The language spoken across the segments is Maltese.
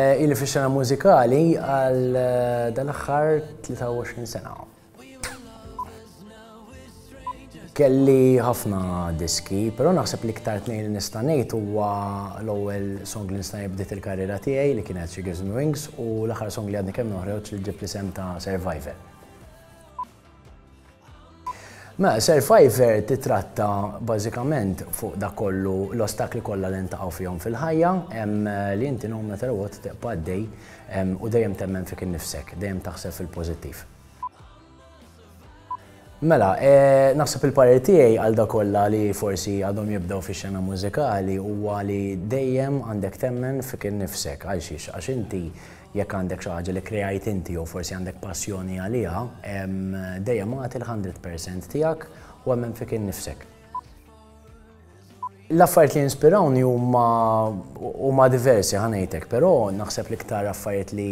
Eh, ili fis-sena mużikali għal eh, dal-aħħar 23 sena. Kelli ħafna diski, però naħseb li ktar tnejn li nista' ngħid huwa l-ewwel song li nista' bdiet il-karriera tiegħi li kienet She Gives Me Wings u l-aħħar song li għadni kemm noħroġ li ġib l-isem ta' Survivor. Mela, Survivor titratta bażikament fuq dak kollu l-ostakli kollha li ntaqgħu fihom fil-ħajja, li inti no matter what tibqa' għaddej u dejjem temmen fik innifsek, dejjem taħseb fil-pożittiv. Mela, naħseb il-parir tiegħi għal dak kollha li forsi għadhom jibdew fix-xena mużikali huwa li dejjem għandek temmen fik innifsek għal xiex għax inti Jekk għandek xi ħaġa li kkreajt inti jew forsi għandek passjoni għaliha, dejjem agħti l-hundred percent tiegħek u emmen fik innifsek. L-affarijiet li jinspirawni huma diversi ħa ngħidlek, però naħseb l-iktar affarijiet li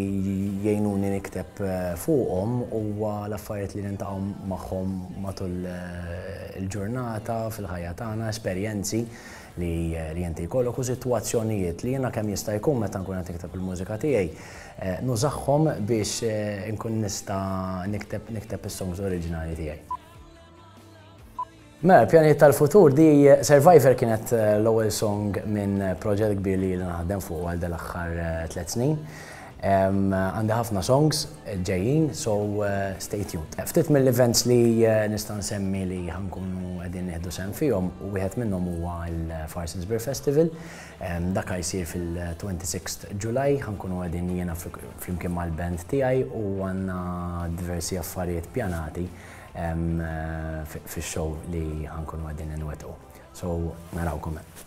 jgħinuni nikteb eh, fuqhom huwa l-affarijiet li niltaqgħu magħhom matul eh, il-ġurnata fil-ħajja tagħna, esperjenzi. li li inti jkollok u sitwazzjonijiet li jiena kemm jista' jkun meta nkun qed nikteb il-mużika tiegħi eh, nużagħhom biex eh, nkun nista' nikteb nikteb is-songs oriġinali tiegħi. Mela, pjani tal-futur di Survivor kienet eh, l-ewwel song minn proġett kbir li naħdem fuq għal dal-aħħar eh, tliet snin. Għandi ħafna songs ġejjin so stay tuned. Ftit mill-events li nista' nsemmi li ħa nkunu qegħdin nieħdu sehem fihom u wieħed minnhom huwa l-Farsons Beer Festival. Dak ħa jsir fil-26th July ħa nkunu qegħdin jiena flimkien mal-band tiegħi u għandna diversi affarijiet pjanati fix-show li ħa nkunu qegħdin inwettqu. So narawkom hemm.